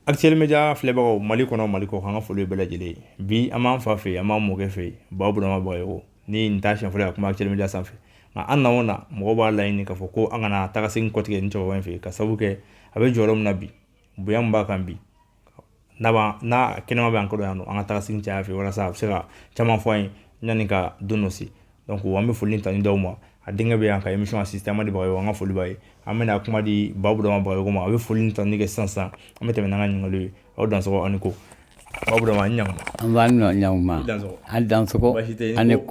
Actuel Média filɛbagaw Mali kɔnɔ Mali kɔkan an ka foli bɛɛ lajɛlen ye bi an b'an fa fɛ an b'an mɔkɛ fɛ Ba Burama Bagayogo ni nin t'a siɲɛ fɔlɔ ye ka kuma Actuel Média sanfɛ nka an nana mɔgɔw b'a laɲini k'a fɔ ko an ka na taga segin kɔ tuguni cɛkɔrɔba in fɛ ka sababu kɛ a bɛ jɔyɔrɔ min na bi bonya min b'a kan bi n'a n'a kɛnɛma bɛ an kɔrɔ yan an ka taa segin caya a fɛ walasa a bɛ se ka caman fɔ an ye yanni ka don dɔ se donc an bɛ foli tanu d'a ma a denkɛ bɛ yan ka émission assisté Amadu Bagayogo an ka foli b'a ye an bɛna kuma di Ba Burama Bagayogo ma a bɛ foli tanu kɛ sisan an bɛ tɛmɛ n'an ka ɲininkaliw ye aw dansɔgɔ ani ko Burama aw dansɔgɔ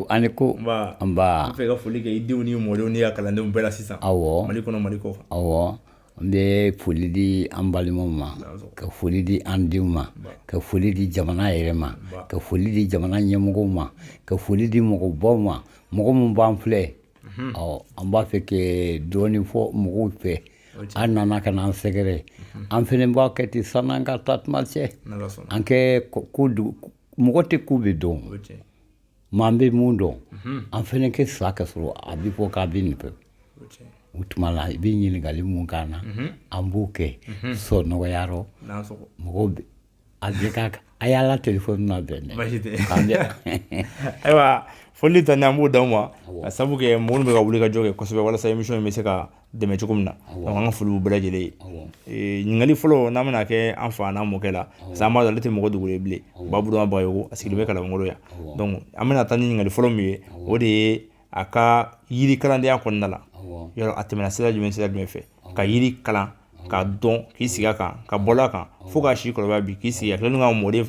ani ko an b'a fɛ ka foli kɛ i denw ni mɔdenw n'i ka kalandenw bɛɛ la sisan awɔ Mali kɔnɔ Mali kɔ awɔ N bɛ foli di an balimaw ma ka foli di an denw ma ka foli di jamana yɛrɛ ma ka foli di jamana ɲɛmɔgɔw ma ka foli di mɔgɔbaw ma mɔgɔ minnu b'an filɛ ɔ an b'a fɛ ka dɔɔnin fɔ mɔgɔw fɛ aw nana ka na an sɛgɛrɛ an fana b'a kɛ ten san'an ka taa tuma cɛ an kɛ mɔgɔ tɛ ko bɛɛ dɔn Mais an bɛ min dɔn an fana kɛ sa ka sɔrɔ a bɛ fɔ k'a bɛ nin fɛ o tuma la i bɛ ɲininkali min k'an na an b'o kɛ so nɔgɔya rɔ mɔgɔw bɛ a a y'a la telefɔni na bɛn dɛ ayiwa foli tanu an b'o d'aw ma ka sabu kɛ mɔgɔ minnu bɛ ka wuli ka jɔ kɛ kosɛbɛ walasa émission in bɛ se ka dɛmɛ cogo min na donc an ka foli b'u bɛɛ lajɛlen ye ɲininkali fɔlɔ n'an bɛna kɛ an fa n'an mɔkɛ la parce que an b'a dɔn ale tɛ mɔgɔ dogolen ye bilen Ba Burama Bagayogo a sigilen bɛ Kalabankɔrɔ yan donc an bɛna taa ni ɲininkali fɔlɔ min ye o de ye a ka yiri kalandenya kɔnɔna la a tɛmɛna sira jumɛn sira jumɛn fɛ ka yiri kalan k'a dɔn k'i sigi a kan ka bɔ a kan fo k'a si kɔrɔbaya bi k'i sigi a tilalen ka mɔden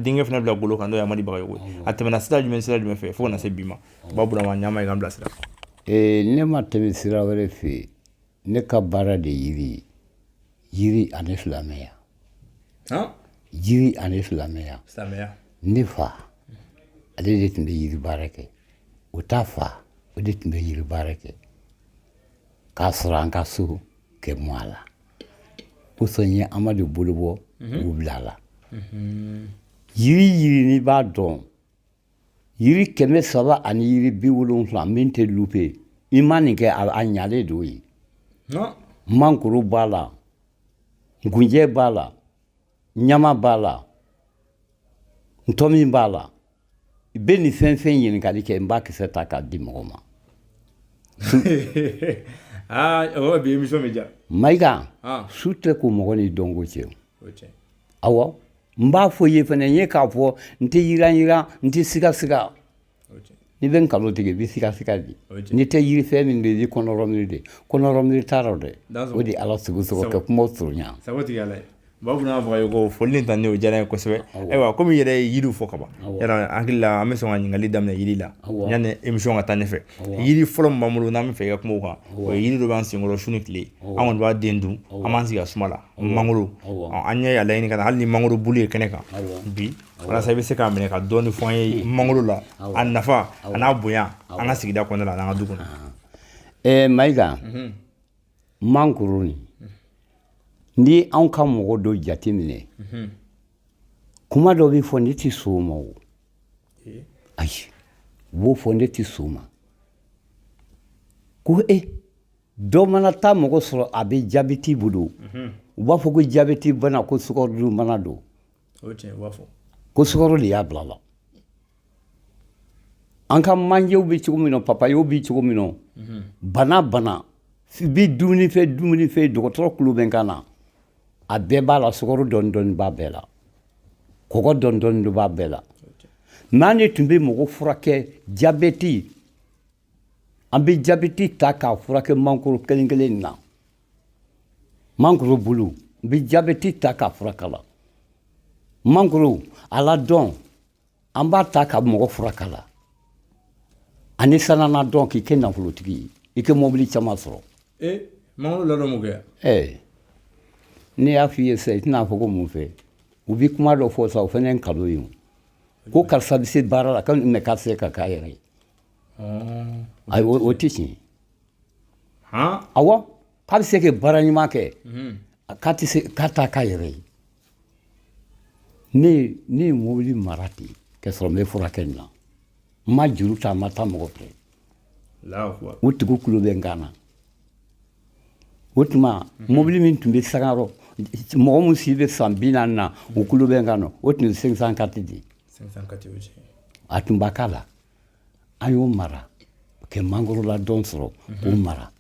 denkɛ fana bila bolo kan n'o ye Amadu Bagayogo ye a tɛmɛna sira jumɛn sira jumɛn fɛ fo ka na se bi ma Ba Burama ɲama ye k'an bilasira Ee ne ma tɛmɛ sira wɛrɛ fɛ ne ka baara de yiri ye yiri ani silamɛya yiri ani silamɛya ne fa ale de tun bɛ yiri baara kɛ o ta fa o de tun bɛ yiri baara kɛ k'a sɔrɔ an ka so kɛ mɔ a la o kosɔn n ye Amadu bolo bɔ k'o bila a la yiri yiri ne b'a dɔn yiri kɛmɛ saba ani yiri bi wolonwula min tɛ lupe i ma nin kɛ a a ɲalen don ye mangoro b'a la nkunjɛ b'a la ɲama b'a la ntɔmin b'a la i bɛ nin fɛn fɛn ɲininkali kɛ n b'a kisɛ ta k'a di mɔgɔ ma o bi émission bɛ ja Mayiga su tɛ ko mɔgɔ ni dɔnko cɛ awɔ n b'a fɔ ye fana ye k'a fɔ n tɛ yiran yiran n tɛ siga siga n'i bɛ nkalon tigɛ i bɛ siga siga di n'i tɛ yiri fɛn min bɛ kɔnɔ mi de kɔnɔ mi taara dɛ o de ala sogo sogo kɛ kuma surunya b'a fana fɔ ye ko foli tan o diyara n ye kosɛbɛ ayiwa kɔmi i yɛrɛ ye yiri fɔ ka ban n hakili la an bɛ sɔn ka ɲininkali daminɛ jiri la yanni émission ka taa ɲɛfɛ yiri fɔlɔ min b'an bolo n'an b'a fɛ i ka kuma o kan o yiri dɔ b'an senkɔrɔ su ni tile an kɔni b'a den dun an b'an sigi a suma la mangoro an yɛrɛ y'a laɲini ka na hali ni mangoro bulu ye kɛnɛ kan bi walasa i bɛ se k'a minɛ ka dɔɔni fɔ an ye mangoro la a nafa a n'a bonya an ka sigida kɔnɔna la an'an ka du kɔnɔna mayiga mangoro nin ni anw ka mɔgɔ dɔ jate minɛ kuma dɔ bɛ fɔ ne tɛ sɔn o ma o ayi u b'o fɔ ne tɛ sɔn o ma ko e dɔ mana taa mɔgɔ sɔrɔ a bɛ jabeti bolo u b'a fɔ ko jabeti bana ko sukaro bana don ko sukaro de y'a bila la an ka manjew bɛ cogo min na papayew bɛ cogo min na bana bɛ dumuni fɛ dumuni fɛ dɔgɔtɔrɔ tulo bɛ n kan na a bɛɛ b'a la sukaro dɔɔni dɔɔni b'a bɛɛ la kɔgɔ dɔɔni dɔɔni b'a bɛɛ la mɛ an de tun bɛ mɔgɔ furakɛ jabeti an bɛ jabɛti ta k'a furakɛ mangoro kelen kelen na mangoro bulu n bɛ jabɛti ta k'a furakɛ la mangoro aladɔn an b'a ta ka mɔgɔ furakɛ la ani sanan ladɔn k'i kɛ nafolotigi ye i kɛ mɔbili caman sɔrɔ eh, mangoro ladɔn mun kɛ eh, ne y'a f'i ye sisan i tɛna fɔ ko mun fɛ u bɛ kuma dɔ fɔ sa o fana ye nkalon ye ko karisa bɛ se baara la mɛ k'a tɛ se ka k'a yɛrɛ ye ayi o tɛ tiɲɛ awɔ k'a bɛ se ka baara ɲuman kɛ k'a tɛ se k'a ta k'a yɛrɛ ye ne ne ye mobili mara ten k'a sɔrɔ n bɛ furakɛ nin na n ma juru ta n ma taa mɔgɔ fɛ o tigiw tulo bɛ n kan na o tuma mobili min tun bɛ sanga rɔ mɔgɔ min si bɛ san bi naani na u tulo bɛ n kan na o tun ye cinq cent quatre de ye a tun b'a k'a la an y'o mara kɛ mangoro ladɔn sɔrɔ k'o mhm. mara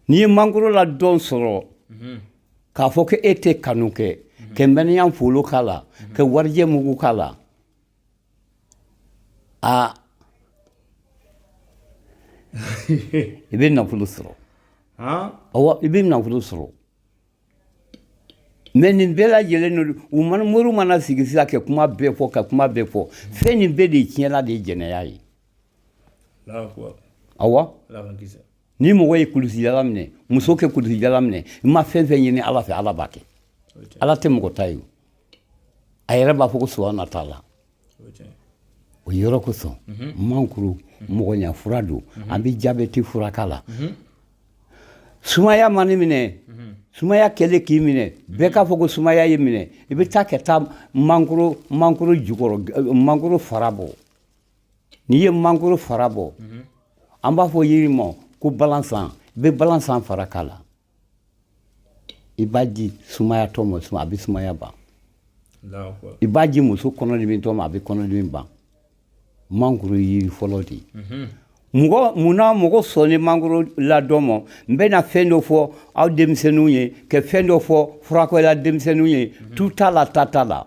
n'i ye mangoro ladɔn sɔrɔ mhm. k'a fɔ ko e tɛ kanu kɛ mhm. ka mɛniya folo k'a la ka warijɛ mugu k'a la a i bɛ nafolo sɔrɔ i bɛ nafolo sɔrɔ mais nin bɛɛ lajɛlen don u mana mori mana sigi sisan ka kuma bɛɛ fɔ ka kuma bɛɛ fɔ fɛn nin bɛɛ de tiɲɛla de ye jɛnɛya ye awa ni mɔgɔ ye kulusijala minɛ muso kɛ kulusijala minɛ i ma fɛn fɛn ɲini ala fɛ ala b'a kɛ ala tɛ mɔgɔ ta ye a yɛrɛ b'a fɔ ko suwa na t'a la o yɔrɔ kosɔn mankoro mɔgɔya fura don an bɛ jabɛti furak'a la sumaya man'i minɛ sumaya kɛlen k'i minɛ bɛɛ k'a fɔ ko sumaya y'i minɛ i bɛ taa ka taa mankoro mankoro jukɔrɔ mankoro fara bɔ n'i ye mankoro fara bɔ an b'a fɔ yiri ma ko balansan i bɛ balansan fara k'a la i b'a di sumayatɔ ma a bɛ sumaya ban i b'a di muso kɔnɔdimitɔ ma a bɛ kɔnɔdimi ban mankoro yiri fɔlɔ de ye mhm. mɔgɔ munna mɔgɔ sɔnni mankoro ladon ma n bɛna fɛn dɔ fɔ aw denmisɛnninw ye ka fɛn dɔ fɔ furakɛla denmisɛnninw ye mhm. tu t'a la ta t'a la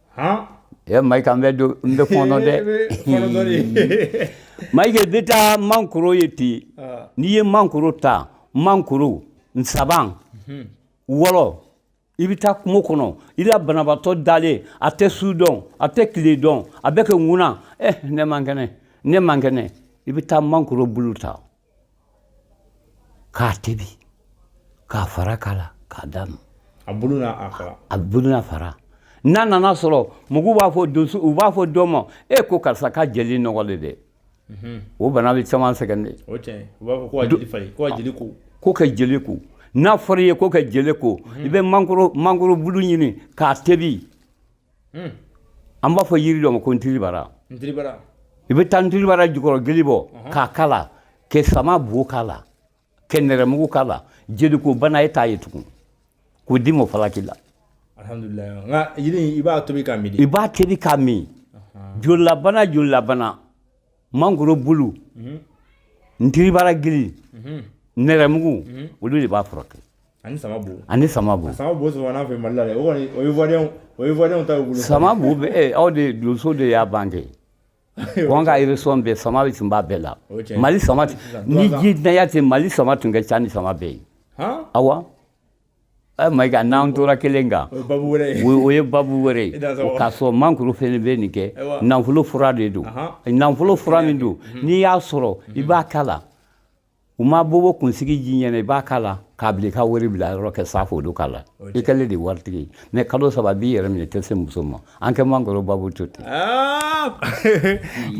Ee Mayiga an bɛ don n bɛ fɔɔnɔ dɛ, e bɛ fɔɔnɔ dɔɔni, Mayiga i bɛ taa mankoro ye ten, ɔɔ, n'i ye mankoro ta mankoro nsaban wɔlɔ i bɛ taa kungo kɔnɔ i la banabaatɔ dalen a tɛ su dɔn a tɛ tile dɔn a bɛ ka ŋuna eh ne man kɛnɛ ne man kɛnɛ i bɛ taa mankoro bulu ta k'a tobi k'a fara k'a la k'a d'a ma a bulu n'a a fara a bulu n'a fara n'a nana sɔrɔ mɔgɔw b'a fɔ donso u b'a fɔ dɔ ma e ko karisa ka jeli nɔgɔlen dɛ mhm. o bana bɛ caman sɛgɛn dɛ o tiɲɛ u b'a fɔ ko ka jeli falen ko ka jeli ko ko ka jeli ko n'a fɔra i ye ko ka jeli ko mhm. i bɛ mangoro mangoro bulu ɲini k'a tobi Hmm. an b'a fɔ yiri dɔ ma ko ntiribara i bɛ taa ntiribara jukɔrɔ gili bɔ uh-huh. k'a k'a la ka sama bo k'a la ka nɛrɛmugu k'a la jeliko bana e t'a ye tugun k'o di mɔ falaki la i b'a tobi k'a min i b'a tobi k'a min uh-huh. jolilabana jolilabana mangoro bulu mm-hmm. ntiribara gili mm-hmm. nɛrɛmugu mm-hmm. olu de b'a furakɛ ani sama bo ani sama bo sama bo sɔrɔ n'a fɛ mali la dɛ o kɔni o ye ivoirienw o ye ivoirienw ta y'u bolo sama bo bɛ eh, aw de donso de y'a bange ko an ka région bɛɛ sama bɛ tun b'a bɛɛ la mali sama ni ji danya tɛ mali sama tun ka ca ni sama bɛɛ ye awa ɛ mayiga n'an tora kelen kan o ye babu wɛrɛ ye k'a sɔrɔ mankoro fɛnɛ bɛ nin kɛ nafolo fura de don nafolo fura min don n'i y'a sɔrɔ i b'a k'a la u ma bobo kunsigi ji ɲɛna i b'a k'a la k'a bila i ka wari bila yɔrɔ kɛ safo k'a la i kɛlen de waritigi ye mais kalo saba b'i yɛrɛ minɛ i tɛ se muso ma an kɛ maakɔrɔ babu to ten ah!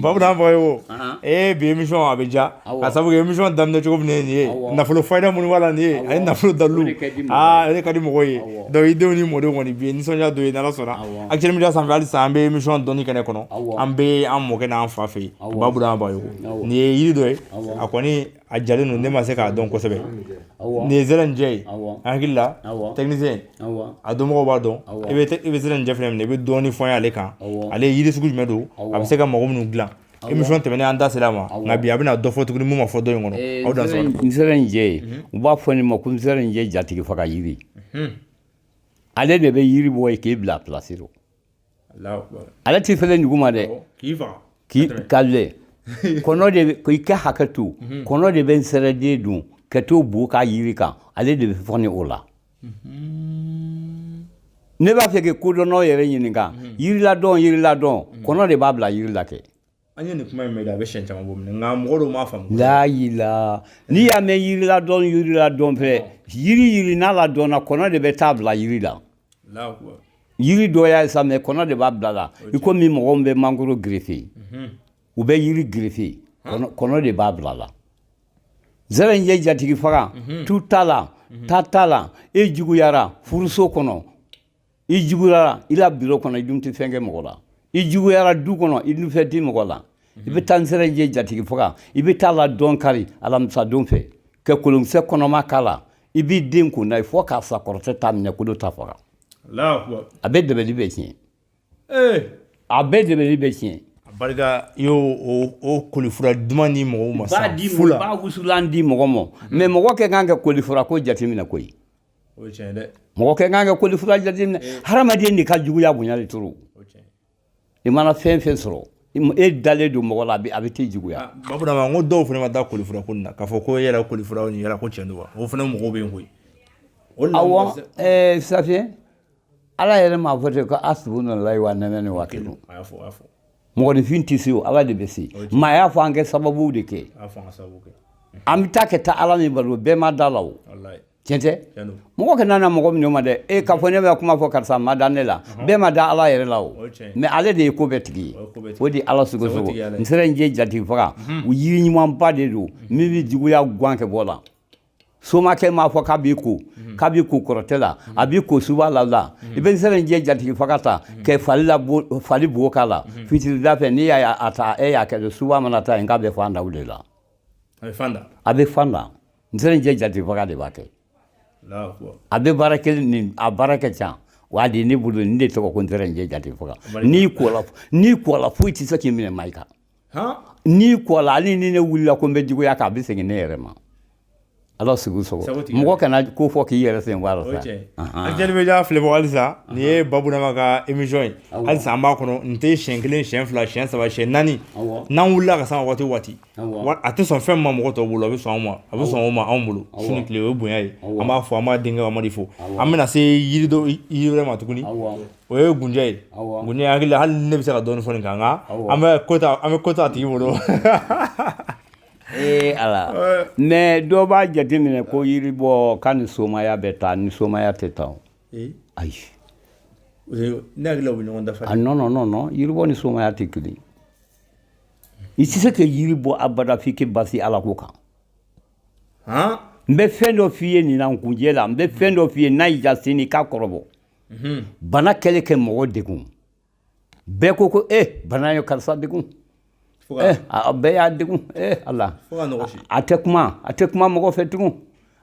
babu Niang fɔ ye o ah. ee eh, bi emission a bɛ diya k'a sabu kɛ emission daminɛ cogo min nin ye nafolo fayida minnu b'a la nin ye ani nafolo dalilu aa ale ka di mɔgɔw ye donc i denw ni mɔdenw kɔni bi ye nisɔndiya don ye n'ala sɔnna actuel media sanfɛ halisa an bɛ emission dɔnni kɛnɛ kɔnɔ an bɛ an mɔkɛ n'an fa fɛ yen babu Niang fɔ ye o nin ye yiri dɔ ye a kɔni a jalen don ne ma se k'a dɔn kosɛbɛ nin ye zɛrɛnjɛ ye n hakili la technicien a dɔnmɔgɔw b'a dɔn i bɛ i bɛ zɛrɛnjɛ fɛnɛ minɛ i bɛ dɔɔnin fɔ n ye ale kan ale yiri sugu jumɛn don a bɛ se ka mago minnu dilan emission tɛmɛnen an da sera a ma nka bi a bɛna dɔ fɔ tuguni min ma fɔ dɔ in kɔnɔ aw da sɔrɔ nsɛrɛnjɛ ye u b'a fɔ nin ma ko nsɛrɛnjɛ jatigi faga yiri ale de bɛ yiri bɔ yen k'i bila a pilasi la ale tɛ falen dugu ma dɛ k'i ka kɔnɔ de ko i kɛ hakɛ to mhm. kɔnɔ de bɛ nsɛrɛden dun ka t'o bo kɛ yiri kan ale de bɛ falen o la mhm. ne b'a fɛ ka kodɔnnaw yɛrɛ ɲininka mhm. yiriladɔn yiriladɔn kɔnɔ de b'a bila yiri la kɛ An ye nin kuma in mɛn a bɛ siyɛn caman bɔ nka mɔgɔ dɔw m'a faamu layila n'i y'a mɛn yiriladɔn yiriladɔn fɛ yiri yiri n'a ladɔnna kɔnɔ de bɛ t'a bila yiri la yiri dɔ y'a sa mais kɔnɔ de b'a bila la ikomi mɔgɔw bɛ mangoro girife u bɛ yiri girife kɔnɔ de b'a bila la zɛrɛnjɛ jatigi faga tu t'a la ta t'a la e juguyara furuso kɔnɔ i juguyara i la biro kɔnɔ i dun tɛ fɛn kɛ mɔgɔ la i juguyara du kɔnɔ i dun fɛn tɛ mɔgɔ la i bɛ taa nsɛrɛnjɛ jatigi faga i bɛ t'a ladɔn kari alamisadon fɛ ka kolonkisɛ kɔnɔma k'a la i b'i den kun na ye fo k'a sa kɔrɔtɛ t'a minɛ kolo t'a faga a bɛ dabali bɛɛ tiɲɛ eh! a bɛ dabali bɛɛ tiɲɛ barika i y'o o kolifura duman di mɔgɔw ma sisan fu la b'a wusulan di mɔgɔ ma mais mɔgɔ kɛ kan ka kolifura ko jateminɛ koyi O ye tiɲɛ dɛ mɔgɔ kɛ kan ka kolifura jateminɛ hadamaden de ka juguya bonya de toro i mana fɛn fɛn sɔrɔ e dalen don mɔgɔ la a bɛ t'i juguya babura ma ko dɔw fana ma da kolifura ko na k'a fɔ ko e yɛrɛ kolifura nin yɛrɛ ko cɛn wa o fana mɔgɔw bɛ yen koyi awɔ ɛɛ safiye ala yɛrɛ m'a fɔ ten ko asibunalayi wa nɛmɛli wakili mɔgɔninfin tɛ se o ala de bɛ se mais a y'a fɔ an kɛ sababu de kɛ an bɛ taa kɛ taa ala min balo bɛɛ ma da la o tiɲɛ tɛ mɔgɔ kana na mɔgɔ min ma dɛ e k'a fɔ ne bɛ kuma fɔ karisa ma da ne la bɛɛ ma da ala yɛrɛ la o mais ale de ye ko bɛɛ tigi ye o de ala sogo sogo nsɛrɛninjɛ jatigifaga u yiri ɲumanba de don min bɛ juguya gan kɛ bɔ la somakɛ m'a fɔ k'a b'i ko k'a b'i ko kɔrɔtɛ la a b'i ko suba la la i bɛ nsɛrɛninjɛ jatigifaga ta kɛ fali fali bo k'a la fitirida fɛ n'i y'a a ta e y'a kɛ suba mana taa yen k'a bɛ fan da de la a bɛ fan da nsɛrɛninjɛ jatigifaga de b'a kɛ a bɛ baara kelen nin a baara kɛ ca wa de ne bolo nin de tɔgɔ ko nsɛrɛninjɛ jatigifaga n'i kola n'i kola foyi tɛ se k'i minɛ ma i kan n'i kola hali ni ne wulila ko n bɛ juguya kɛ a bɛ segin ne yɛrɛ ma ala segu so mɔgɔ kana ko fɔ k'i yɛrɛ sen b'a la Actuel Média filɛbagaw halisa nin ye Baburama ka émission ye halisa an b'a kɔnɔ n tɛ siyɛn kelen siyɛn fila siyɛn saba siyɛn naani n'an wulila ka se waati o waati a tɛ sɔn fɛn ma mɔgɔ tɔw bolo a bɛ sɔn ma a bɛ sɔn o ma anw bolo su ni tile o ye bonya ye an b'a fo an b'a denkɛ Amadu de fo an bɛna se yiri wɛrɛ ma tuguni o ye nkunjɛ ye nkunjɛ n hakili la hali ne bɛ se ka dɔɔni fɔ nin kan an bɛ ko to an bɛ ko to a tigi bolo ee ala mais dɔ b'a jateminɛ ko yiri bɔ ka ni somaya bɛ taa ni somaya tɛ taa ayi ne hakili la u bɛ ɲɔgɔn dafa a non non yiribɔ ni somaya tɛ kelen i tɛ se ka yiri bɔ abada f'i k'i basi ala ko kan n bɛ fɛn dɔ f'i ye nin na nkunjɛ la n bɛ fɛn dɔ f'i ye n'a y'i diya sini k'a kɔrɔbɔ bana kɛlen ka mɔgɔ degun bɛɛ ko ko e bana ye karisa degun bɛɛ y'a degun ala a tɛ kuma a tɛ kuma mɔgɔ fɛ tugun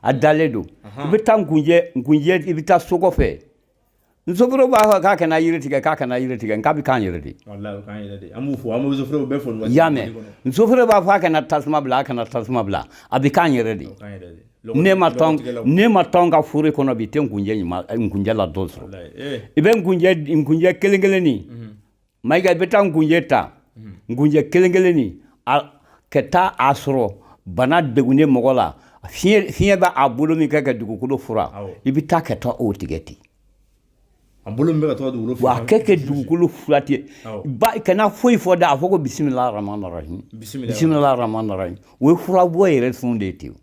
a dalen don i bɛ taa nkunjɛ i bɛ taa so kɔfɛ Nsofɔrɛ b'a fɔ k'a kana yiri tigɛ k'a kana yiri tigɛ nka a bɛ k'an yɛrɛ de y'a mɛn nsofɔrɛ b'a fɔ a kana tasuma bila a kana tasuma bila a bɛ k'an yɛrɛ de ne ma ne ma tɔn ka foro kɔnɔ bi i tɛ nkunjɛ nkunjɛ la dɔ sɔrɔ i bɛ nkunjɛ kelen kelen de mayiga i bɛ taa nkunjɛ ta nkunjɛ kelen kelenni ka taa a sɔrɔ bana degunnen mɔgɔ la fiɲɛ bɛ a bolo min kɛ ka dugukolo furan i bɛ taa ka taa o tigɛ ten a bolo min bɛ ka taa dugukolo furan a kɛ ka dugukolo furan ten ba kana foyi fɔ dɛ a fɔ ko bisimila rahman rahim bisimila rahman rahim o ye furabɔ yɛrɛ sun de ye ten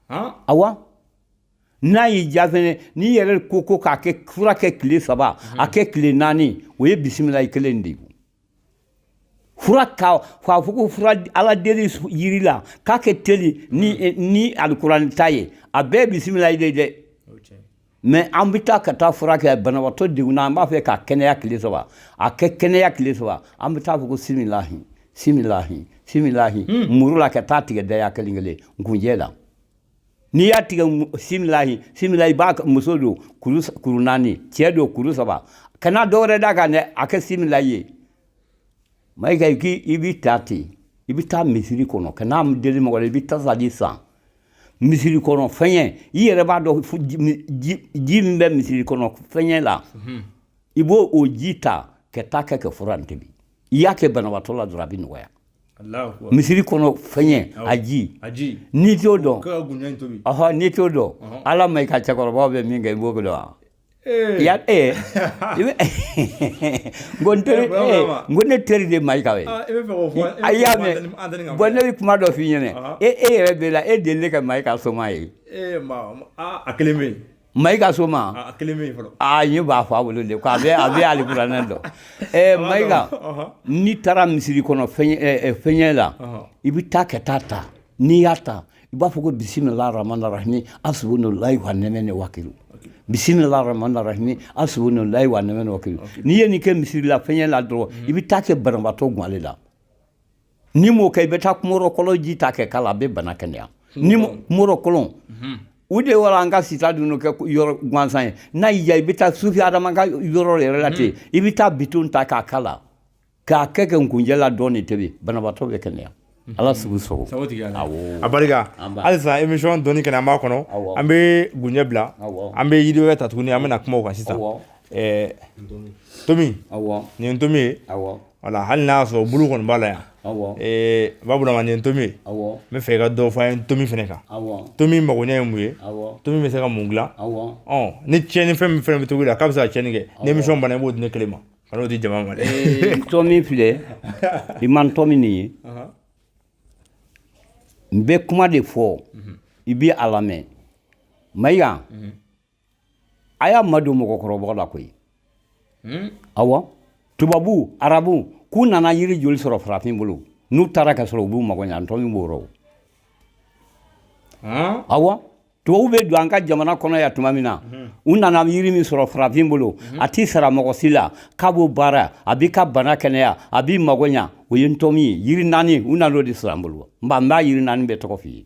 awa n'a y'i diya fɛnɛ n'i yɛrɛ ko ko k'a kɛ fura kɛ tile saba a kɛ tile naani o ye bisimilahi kelen de ye fura ka k'a fɔ ko fura ala deli yiri la k'a kɛ teli ni eh, ni alikuranɛ ta ye a bɛɛ bisimilahi de ye dɛ o cɛ mais an bɛ taa ka taa fura kɛ banabaatɔ degunna an b'a fɛ k'a kɛnɛya tile saba a ka kɛnɛya tile saba an bɛ taa fɔ ko similahi similahi similahi muru la ka taa tigɛ daya kelen kelen nkunjɛ la n'i y'a tigɛ similahi similahi b'a muso don kuru naani cɛ don kuru saba kana dɔ wɛrɛ d'a kan dɛ a kɛ similahi ye mayiga i b'i ta ten i bɛ taa misiri kɔnɔ kan'a deli mɔgɔ la i bɛ tasa di san misiri kɔnɔ fɛnyɛ i yɛrɛ b'a dɔn ji min bɛ misiri kɔnɔ fɛnyɛ la mhm. i b'o o ji ta ka taa kɛ ka fura in tobi i y'a kɛ banabaatɔ la dɔrɔn a bɛ nɔgɔya Misiri kɔnɔ fɛnyɛ a ji n'i t'o dɔn n'i t'o dɔn ala mayiga cɛkɔrɔbaw bɛ min kɛ i b'o dɔn wa ya ko ne teri de mayigaw ye a y'a mɛn bon ne bɛ kuma dɔ fɔ i ɲɛna e e yɛrɛ bɛ la e deli ne ka mayiga soma ye Mayiga soma a kelen min fɔlɔ aa ye b'a fɔ a bolo de ko a bɛ a bɛ alikuranɛ dɔn mayiga n'i taara misiri kɔnɔ fɛnyɛ la i bɛ taa ka taa ta n'i y'a ta i b'a fɔ ko bisimilahi rahamani rahimi hasibunalahu wa niimal wakili bisimilahi rahamani rahimi hasibunalahu wa niimal wakili n'i ye nin kɛ misiri la fɛnyɛ la dɔrɔn i bɛ taa kɛ banabaatɔ gan ale la n'i m'o kɛ i bɛ taa kumɔrɔ kɔlɔn ji ta kɛ k'a la a bɛ bana kɛnɛya ni kumɔrɔ kɔlɔn u de yɔrɔ an ka sita dun kɛ yɔrɔ gansan ye n'a y'i diya i bɛ taa sufi adama ka yɔrɔ yɛrɛ la ten i bɛ taa bidɔn ta k'a k'a la k'a kɛ kɛ nkunjɛ la dɔɔni tobi banabaatɔ bɛ kɛnɛya ala sugu sogo a barika halisa emission dɔɔni kɛnɛ an b'a kɔnɔ an bɛ nkunjɛ bila an bɛ yiri wɛrɛ ta tuguni an bɛna kuma o kan sisan ntomi nin ye ntomi ye Wala hali n'a y'a sɔrɔ bulu kɔni b'a la yan burama nin ntomi n bɛ fɛ ka dɔ fɔ ntomi fana kan ntomi mago ye mun ye ntomi bɛ se ka mun dila ni cɛnni fɛn min fɛn bɛ to la k'a bɛ se ka cɛnni kɛ ni emission banna b'o di ne kelen ma kan'o di jama ma ntomi filɛ i ma ntomi nin ye n bɛ kuma de fɔ i bɛ a lamɛn mayiga a y'a madon mɔgɔkɔrɔba la koyi hmm? awa tubabu arabu k'u nana yiri joli sɔrɔ farafin bolo n'u taara k'a sɔrɔ u b'u mago ɲa ntomi b'o rɔ hmm? awa tubabu bɛ don an ka jamana kɔnɔ yan tuma min na hmm. u nana yiri min sɔrɔ farafin bolo a t'i sara mɔgɔ si la k'a b'o baara a b'i ka bana kɛnɛya a b'i mago ɲa o ye ntomi ye yiri naani u nan'o de sɔrɔ an bolo n b'a yiri naani bɛɛ tɔgɔ f'i ye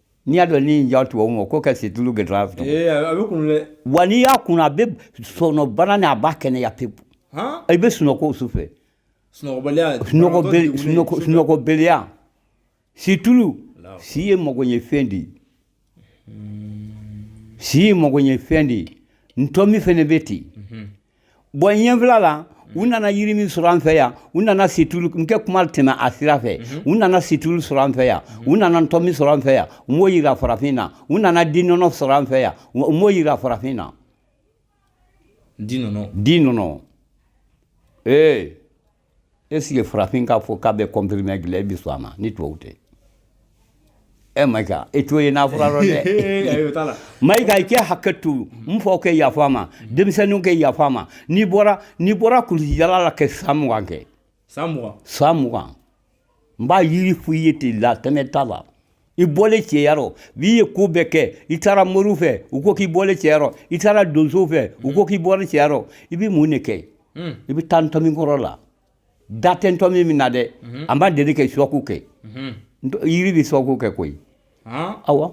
N'i y'a dɔn ni ja tubabu ma ko ka situlu gɛn wa n'i y'a kunu a bɛ sɔnɔbana ni a b'a kɛnɛya pewu i bɛ sunɔgɔ su fɛ sunɔgɔbaliya situlu si ye magoɲɛfɛn de ye si ye magoɲɛfɛn de ye ntomi fana bɛ ten yen Bɔn ɲɛfila la u nana yiri min sɔrɔ an fɛ yan u nana situlu n kɛ kuma latɛmɛ a sira fɛ u nana situlu sɔrɔ an fɛ yan u nana ntɔmi sɔrɔ an fɛ yan u m'o yira farafin na u nana di nɔnɔ sɔrɔ an fɛ yan u m'o yira farafin na di nɔnɔ di nɔnɔ ee ɛsiki farafin k'a fɔ k'a bɛ kɔnpirime gila e bɛ sɔn a ma ni tubabu tɛ Mayiga e t'o ye n na fura rɔ dɛ Mayiga i kɛ hakɛ to n faw kɛ yafa ma denmisɛnninw kɛ yafa ma n'i bɔra n'i bɔra kulusijala la kɛ san mugan kɛ san mugan san mugan n b'a yiri fɔ i ye tele la tɛmɛ t'a la i bɔlen cɛya rɔ n'i ye ko bɛɛ kɛ i taara moriw fɛ u ko k'i bɔlen cɛya rɔ i taara donsow fɛ u ko k'i bɔlen cɛya rɔ i bɛ mun de kɛ hmm. i bɛ taa ntɔmi kɔrɔ la da tɛ ntɔmi min na dɛ hmm. a ma deli kɛ shɔku kɛ hmm. yiri bɛ shɔku kɛ koyi awa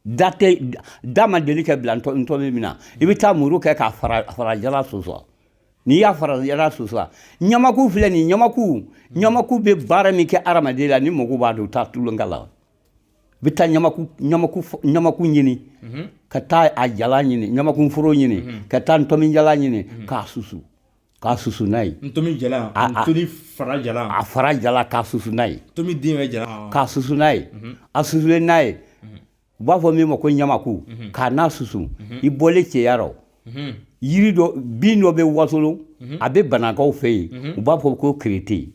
da tɛ da ma deli kɛ bila ntɔmi min na i bɛ taa muru kɛ k'a fara jala susu N'i y'a fara jala susu ɲamaku filɛ nin ɲamaku ɲamaku bɛ baara min kɛ hadamaden la ni mɔgɔw b'a dɔn u tɛ tulon k'a la i bɛ taa ɲamaku ɲini ka taa a jala ɲini ɲamakunforo ɲini ka taa ntomi jala ɲini k'a susu k'a susu n'a ye fara a fara jala k'a susu n'a ye k'a susu n'a ye a susu n'a ye u b'a fɔ min ma ko ɲamaku mhm. k'a n'a susu mhm. i bɔlen cɛya rɔ mhm. yiri dɔ bin dɔ bɛ wasolon a bɛ banakaw fɛ yen u b'a fɔ ko kirete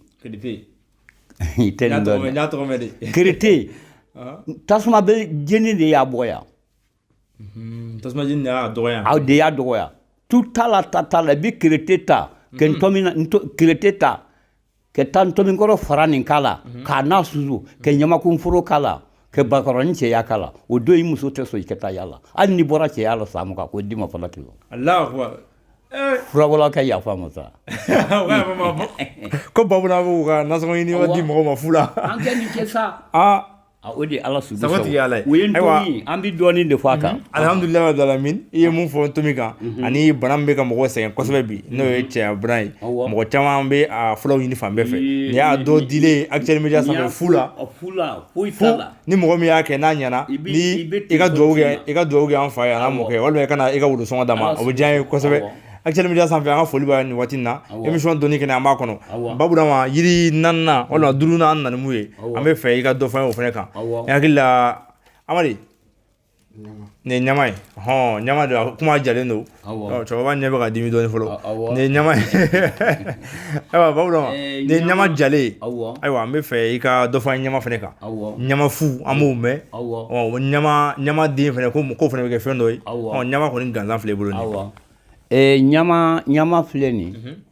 i tɛ nin dɔn kirete ah. tasuma bɛ jeni de y'a bɔya tasuma jeni de y'a dɔgɔya aw de y'a dɔgɔya tu t'a la ta t'a la i bɛ kirete ta kɛ ntɔmi n'a kirete ta ka taa ntɔmi kɔrɔ faranin k'a la mhm. k'a n'a susu ka ɲamakunforo k'a la ka bakɔrɔni cɛya k'a la o don i muso tɛ sɔn i ka taa yala hali ni bɔra cɛya la san mugan k'o d'i ma fana kilo eh. furabɔla ka yafa ma sa ko bamananw ka nasɔngɔ ɲini di mɔgɔ ma fu la an kɛ nin kɛ sa ah. O de ala su saba tigi ala u ye an bɛ dɔɔnin de fɔ a kan alihamdulilayi rabil alamin i ye mun fɔ ntɔmi kan ani bana min bɛ ka mɔgɔ sɛgɛn kosɛbɛ bi n'o ye cɛya bana ye mɔgɔ caman b'a fulaw ɲini fan bɛɛ fɛ n'i y'a dɔ di Actuel Média sanfɛ fu la ni mɔgɔ min y'a kɛ n'a ɲɛna i ka i ka dugawu kɛ an fa ye a n'a mɔkɛ walima i ka i ka worosɔngɔ d'a ma o bɛ diya an ye kosɛbɛ Actuel Média sanfɛ an ka foli b'a nin waati in na emisiyɔn dɔnni kɛnɛ an b'a kɔnɔ ba Burama yiri naaninan walima duurunan an nana min ye an b'a fɛ i ka dɔ fɔ an ye o fana kan n hakili la Amadu nin ɲama ye hɔn ɲama don a kuma jalen don cɛkɔrɔba ɲɛ bɛ ka dimi dɔɔnin fɔlɔ nin ɲama ye Ayiwa Burama nin ye ɲama jalen ayiwa an b'a fɛ i ka dɔ fɔ an ye ɲama fana kan ɲama fu an b'o mɛn ɲama den fana ko ko fana bɛ kɛ fɛn dɔ ye ɲama kɔni gansan filɛ i bolo ɲama filɛ nin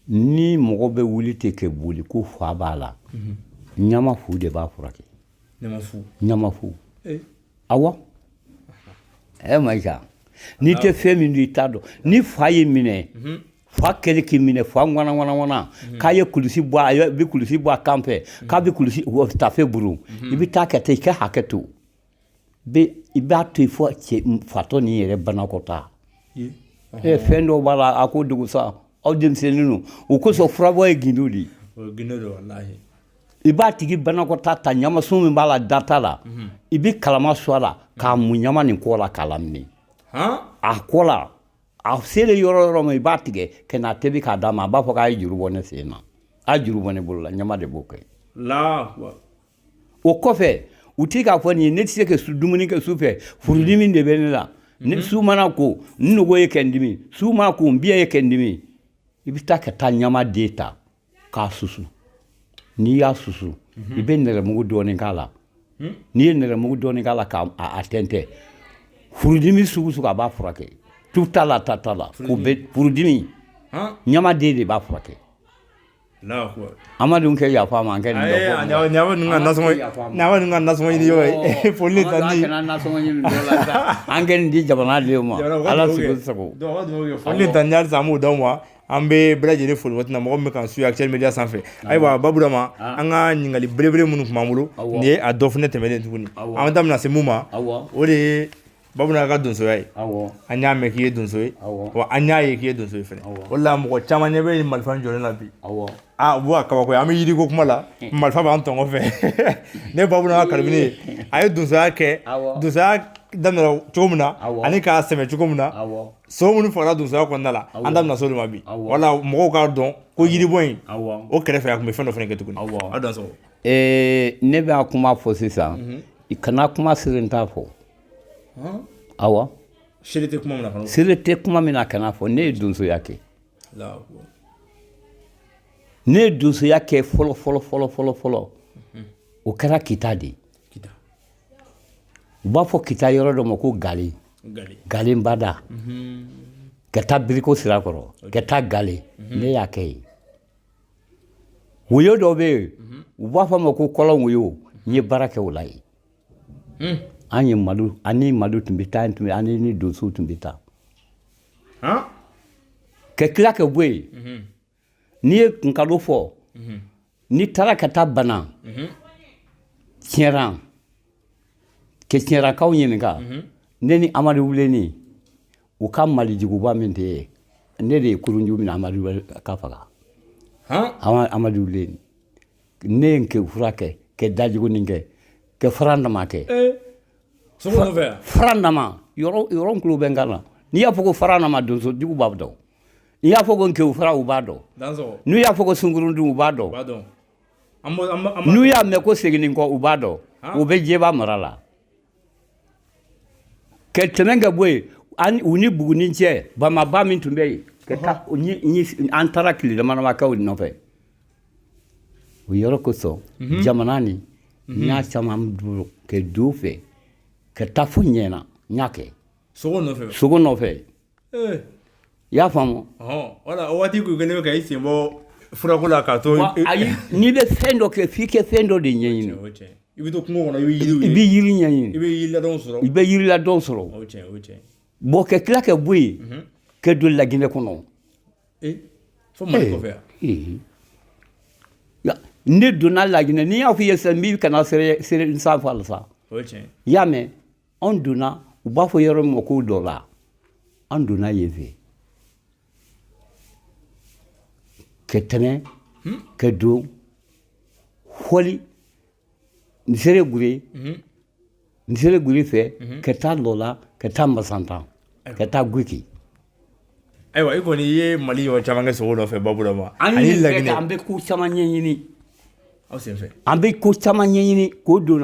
ni mɔgɔ bɛ wuli ten kɛ boli ko fa b'a la ɲama fu de b'a furakɛ ɲama fu awɔ ɛ ma n'i tɛ fɛn min dɔn i t'a dɔn ni fa y'i minɛ fa kɛlen k'i minɛ fa ŋana ŋana ŋana mhm. k'a ye kulusi bɔ a bɛ kulusi bɔ a kan fɛ mhm. k'a bɛ kulusi tafe buru mhm. i bɛ taa ka taa i ka hakɛ to i b'a to yen fo fatɔ nin yɛrɛ banakɔta ɛ fɛn dɔw b'a la a ko dogo sa aw denmisɛnnin don o kosɔn furabɔ ye gindo de ye i b'a tigi banakɔta ta ɲamasun min b'a la data la i bɛ kalama su a la k'a mun ɲama nin kɔ la k'a lamini a kɔ la a selen yɔrɔ yɔrɔ ma i b'a tigɛ ka n'a tebi k'a d'a ma a b'a fɔ k'a ye juru bɔ ne sen na a ye juru bɔ ne bolo la ɲama de b'o kɛ o kɔfɛ u tɛ k'a fɔ nin ye ne tɛ se ka dumuni kɛ su fɛ furudimi de bɛ ne la ni mhm. su mana ko n nugu ye kɛ n dimi su mana ko n biya ye kɛ n dimi i bɛ taa ka taa ɲama den ta k'a susu n'i y'a susu i bɛ nɛrɛmugu dɔɔnin k'a la n'i ye nɛrɛmugu dɔɔnin k'a la k'a tɛntɛn furudimi sugu sugu a b'a furakɛ tu t'a la ta t'a la k'u bɛ furudimi ɲamaden de b'a furakɛ an ma dun kɛ yafa ma kɛ an kɛ nin di jamana ma ala sago an b'o d'aw ma an bɛ bɛɛ lajɛlen fo waati mɔgɔ min bɛ k'an suivre Actuel Média sanfɛ ayiwa Burama an ka ɲininkali belebele minnu tun b'an bolo nin ye a dɔ fana tɛmɛnen tuguni an da bɛna se min ma o de ye Burama ka donsoya ye an y'a mɛn k'i ye donso ye an y'a ye k'i ye donso ye fana o la mɔgɔ caman ɲɛ bɛ marifa jɔlen na bi aaa bɔn kaba an bɛ yiri ko kuma la marifa b'an tɔn fɛ ne Burama ka karabini ye a ye donsoya kɛ donsoya daminɛ cogo min na ani k'a sɛmɛ cogo min na Sogo minnu fagara donsoya kɔnɔna la an da bɛna se o ma bi wala mɔgɔw k'a dɔn ko yiribɔ in o kɛrɛfɛ a tun bɛ fɛn dɔ fana kɛ tuguni ne bɛ kuma fɔ sisan i kana kuma seerentan fɔ awɔ seere tɛ kuma min na kan'a fɔ ne ye donsoya kɛ ne ye donsoya kɛ fɔlɔ fɔlɔ fɔlɔ fɔlɔ fɔlɔ o kɛra kita de ye u b'a fɔ kita yɔrɔ dɔ ma ko ga galenbada ka taa biriko sira kɔrɔ ka taa gale ne y'a kɛ yen woyo dɔ bɛ yen u b'a fɔ a ma ko kɔlɔn woyo n ye baara kɛ o la yen an ye madu ani madu tun bɛ taa tun an ni donsow tun bɛ taa ka tila ka bɔ yen N'i ye nkalon fɔ n'i taara ka taa bana ti ke tiɲɛkaw ɲininka ne ni amadu wuleni u ka malijuguba min tɛ ye ne de ye kurunju minɛ amadu k'a faga amadu ne ye fura kɛ ka dajugu kɛ ka farandama kɛ fara yɔrɔ bɛ n kan na n'i y'a fɔ ko farandama donso jugu b'a dɔn N'i y'a fɔ ko kew fara u b'a dɔn n'u y'a fɔ ko sunkurundun u b'a dɔn n'u y'a mɛn ko seginni kɔ u b'a dɔn u bɛ jɛba mara la ka tɛmɛ ka bɔ yen u ni buguni cɛ bamaba min tun bɛ yen ka an taara tile damadama kɛ o nɔfɛ o yɔrɔ kosɔn jamana nin n y'a caman bolo ka du fɛ ka taa fo ɲɛna n y'a kɛ sogo nɔfɛ I y'a faamu wala waati tun kɛlen ka i sen bɔ furako la k'a to ayi n'i bɛ fɛn dɔ kɛ f'i kɛ fɛn dɔ de ɲɛɲini i bɛ to kungo kɔnɔ i bɛ i bɛ yiri ɲɛɲini i bɛ sɔrɔ i bɛ yiriladɔn sɔrɔ bon ka tila ka bɔ yen ka don laginɛ kɔnɔ fo ne donna laginɛ n'i y'a fɔ i ye n' kana sa fa la sa i y'a mɛn anw donna u b'a fɔ yɔrɔ min ma ko lɔla an donna yen fɛ ka tɛmɛ hmm? ka don fɔli nzerekore hmm? nzerekore fɛ hmm? ka taa lɔla ka taa masanta ka taa guki ayiwa i kɔni i ye mali yɔrɔ caman kɛ sogo nɔfɛ baburama ani laginɛ an bɛ ko caman ɲɛɲini aw senfɛ an bɛ ko caman ɲɛɲini k'o dɔn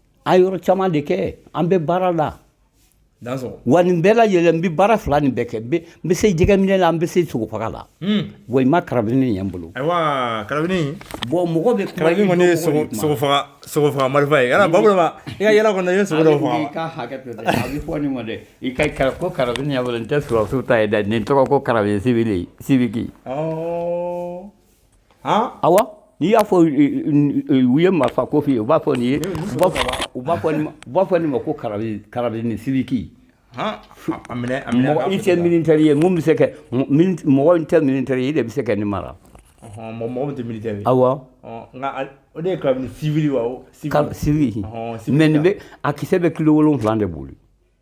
An ye yɔrɔ caman de kɛ an bɛ baara la wa nin bɛɛ lajɛlen n bɛ baara fila nin bɛɛ kɛ n bɛ se jɛgɛminɛ la n bɛ se sogofaga la wa i ma karabini ye n bolo bon mɔgɔ bɛ kuma karabini kɔni ye sogofaga marifa ye baburama i ka yaala kɔnɔ i ye sogo dɔ faga i ka hakɛ to dɛ i ka karabini ko karabini nin tɛ sɔrɔdasiw ta ye dɛ nin tɔgɔ ko karabini sibiki awa n'i y'a fɔ u ye marifa ko f'i ye u b'a fɔ nin ye u b'a fɔ nin ma ko karabini sibiki i tɛ militɛri ye bɛ se mɔgɔ min tɛ militɛri ye e de bɛ se ka nin mara mɔgɔ tɛ awɔ o de ye siwili mɛ nin bɛ a kisɛ bɛ kilo wolonfila de boli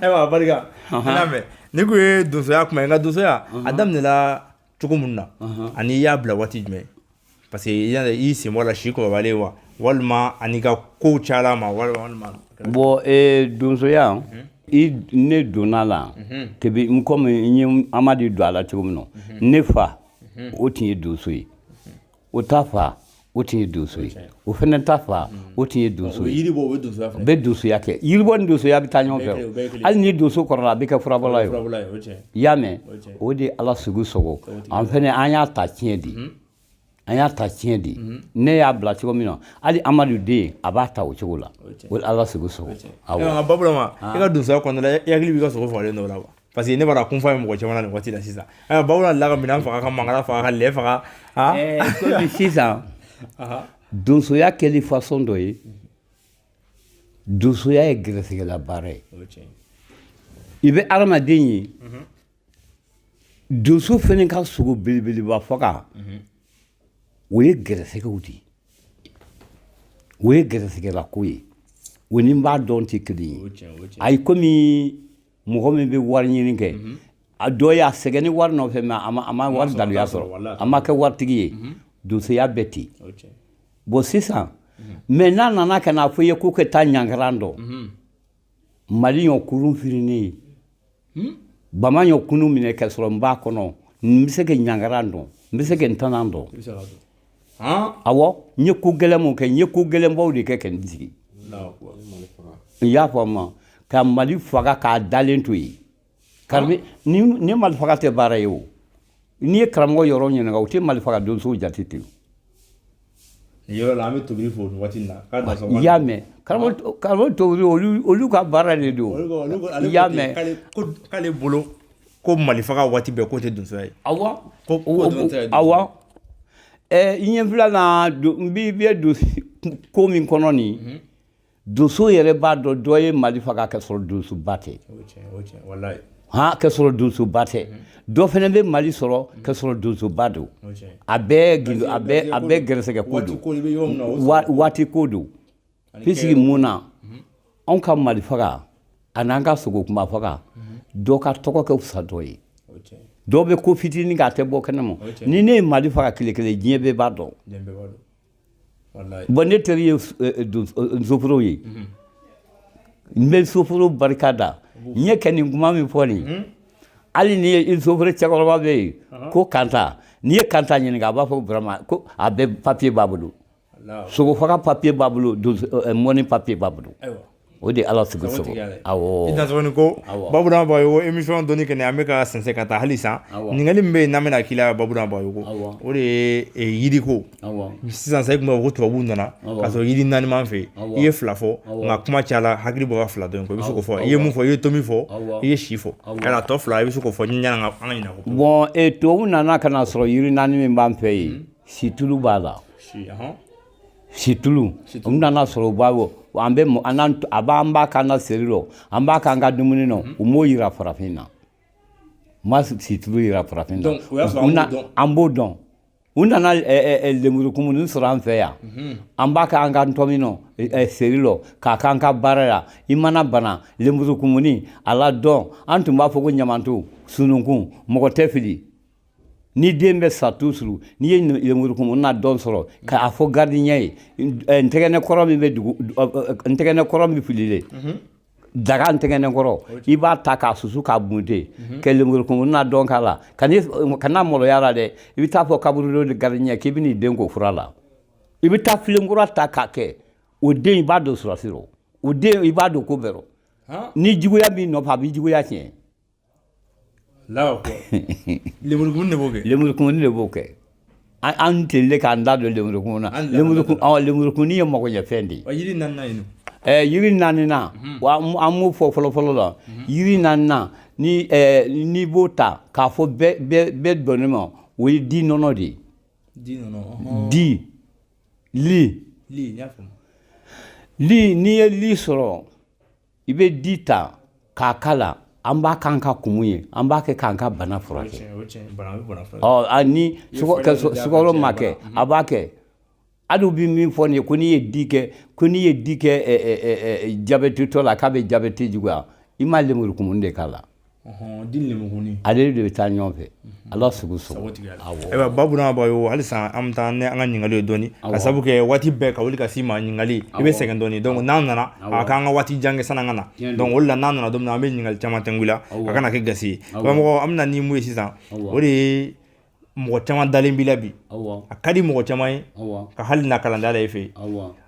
ayiwa barika n'a mɛn nin ko ye donsoya kuma ye nka donsoya a daminɛla cogo min na ani i y'a bila waati jumɛn parce que i sen bɔ a la si kɔrɔbalen wa walima ani ka kow cayala ma walima bon ee donsoya ne donna a la kebi n komi n ye amadi don a la cogo min na ne fa o tun ye donso ye o ta fa o tun ye donso ye o fɛnɛ ta fa o tun ye donso ye bɛ donsoya kɛ yiribɔ ni donsoya bɛ taa ɲɔgɔn fɛ hali ni donso kɔrɔla a bɛ kɛ furabɔla ye i y'a mɛn o de ala sago sago an fɛnɛ an y'a ta tiɲɛ di an y'a ta tiɲɛ di ne y'a bila cogo min na hali amadu den a b'a ta o cogo la o ala sago sago baburama i ka donsoya kɔnɔna i hakili b'i ka sogo fagalen dɔ la wa parce que ne b'a dɔn kunfa ye mɔgɔ caman na nin waati la sisan eh, baburama delila ka minɛn faga ka mangalan faga ka lɛ faga ah. eh, komi sisan donsoya kɛli façon dɔ ye donsoya ye gɛrɛsɛgɛla baara ye i bɛ adamaden ye mhm. donso fɛnɛ ka sogo belebeleba faga mhm. o ye gɛrɛsɛgɛ de ye o ye gɛrɛsɛgɛlako ye o ni n b'a dɔn tɛ kelen ye ayi komi mɔgɔ min bɛ wari ɲini kɛ a dɔ ye a sɛgɛnnen wari nɔfɛ mais a ma wari daluya sɔrɔ a ma kɛ waritigi ye donsoya bɛ ten bon sisan mais n'a nana ka n'a fɔ i ye ko ka taa ɲangaran dɔn mali ɲɔ kurun firinnen ye bama ɲɔ kurun minɛ ka sɔrɔ n b'a kɔnɔ n bɛ se ka ɲangaran dɔn n bɛ se ka ntanan dɔn Awɔ n ye ko gɛlɛn mun kɛ n ye ko gɛlɛnbaw de kɛ ka n sigi i y'a faamu ka mali faga k'a dalen to yen ni mali faga tɛ baara ye o n'i ye karamɔgɔ yɔrɔ ɲininka o tɛ mali faga donso jate ten yɔrɔ la an bɛ tobili fɔ nin waati in na k'a da sɔgɔma i y'a mɛn karamɔgɔ tobili olu ka baara de don i y'a mɛn k'ale bolo ko mali faga waati bɛɛ k'o tɛ donsoya ye awa ko awa ɛ i ɲɛ fila na n bi bɛ donso ko min kɔnɔ nin mhm. donso yɛrɛ b'a dɔn dɔ ye mali faga ka sɔrɔ donsoba tɛ ha ka sɔrɔ donsoba tɛ mhm. dɔ fɛnɛ bɛ mali sɔrɔ ka mhm. sɔrɔ donsoba don a bɛɛ a bɛɛ gɛrɛsɛgɛ ko don waati ko don Puisque mun na anw ka mali faga ani an ka sogo kunba faga dɔ ka tɔgɔ ka fisa dɔ ye dɔ bɛ ko fitinin kɛ a tɛ bɔ kɛnɛ ma ni ne ye mali faga kile kelen diɲɛ bɛɛ b'a dɔn bon ne teri ye soforo ye n bɛ soforo barika da n ye kɛ nin kuma min fɔ nin hali ni ye soforo cɛkɔrɔba bɛ yen ko kanta n'i ye kanta ɲininka a b'a fɔ burama a bɛ papiye b'a bolo sogo faga papiye b'a bolo mɔni papiye b'a bolo o de ala sigi sogo i ko Baburama Bagayoko emisiyɔn dɔnni kɛnɛ an bɛ ka sɛnsɛn ka taa halisa ɲininkali min bɛ yen n'an bɛna k'i la Baburama Bagayoko o de ye yiriko sisan sa e tun b'a fɔ ko tubabuw nana k'a sɔrɔ yiri naani min b'an fɛ i ye fila fɔ nka kuma cayala hakili bɔ fila dɔ kɔ i bɛ se k'o fɔ i ye mun fɔ i ye ntomi fɔ i ye si fɔ yala tɔ fila i bɛ se k'o fɔ ɲani an ka ɲina o kɔ bɔn tubabu nana k'a sɔrɔ yiri naani min b'an fɛ yen Situlu b'a la situlu u nana sɔrɔ u b'a an bɛ a b'an b'a k'an ka seri la an b'a k'an ka dumuni na u m'o jira farafin na u ma situlu jira farafin na an b'o dɔn u nana lemurukumuni sɔrɔ an fɛ yan an b'a k'an ka ntomi seri la k'a k'an ka baara yan i mana bana lemurukumuni a ladɔn an tun b'a fɔ ko ɲamanton sununkun mɔgɔ tɛ fili ni den bɛ sa tuzuru n'i ye lemurukumu ladɔn sɔrɔ k'a fɔ garidiɲɛ ye ntɛgɛnɛ kɔrɔ min bɛ dugu ntɛgɛnɛ kɔrɔ min fililen daga ntɛgɛnɛ kɔrɔ i b'a ta k'a susu k'a bunte ka lemurukumu ladɔn k'a la kana maloya a la dɛ i bɛ taa fɔ kaburudo ni garidiɲɛ k'i bɛ n'i den ko fura la i bɛ taa filenkura ta k'a kɛ o den i b'a don surasi rɔ o den i b'a don ko bɛɛ rɔ ni juguya b'i nɔfɛ a b'i juguya tiɲɛ lenburukumu de b'o kɛ lenburukumuni de b'o kɛ an an tile k'an da don lenburukumu na An da don lenburukumu awɔ lenburukumuni ye magoɲɛfɛn de ye ɔ yiri naaninan ye ɛɛ yiri naaninan wa an an m'o fɔ fɔlɔfɔlɔ la yiri naaninan ni ɛɛ n'i b'o ta k'a fɔ bɛɛ bɛɛ bɛɛ dɔnnen ma o ye di nɔnɔ de ye di nɔnɔ ɔhɔn. di li li n y'a faamu li n'i ye li sɔrɔ i bɛ di ta k'a k'a la an b'a k'an ka kumu ye an b'a kɛ k'an ka bana furakɛ ni sukaro ma kɛ a b'a kɛ hali u bɛ min fɔ nin ye ko n'i ye di kɛ ko n'i ye di kɛ jabetitɔ la k'a bɛ jabeti juguya i m ma lemurukumun de k'a la Ale de bɛ taa ɲɔgɔn fɛ ala sogo sɔrɔ ayiwa Baburama Bagayoko halisa an bɛ taa n'an ka ɲininkali ye dɔɔni k'a sabu kɛ waati bɛɛ ka wuli ka s'i ma ɲininkali i bɛ sɛgɛn dɔɔni dɔnki n'an nana a k'an ka waati jan kɛ san'an ka na dɔnki o la n'an nana don min an bɛ ɲininkali caman tɛkun i la a kana kɛ gasi ye karamɔgɔ an bɛ na ni min ye sisan o de ye mɔgɔ caman dalen b'i la bi a ka di mɔgɔ caman ye ka hali na kalandenya la e fɛ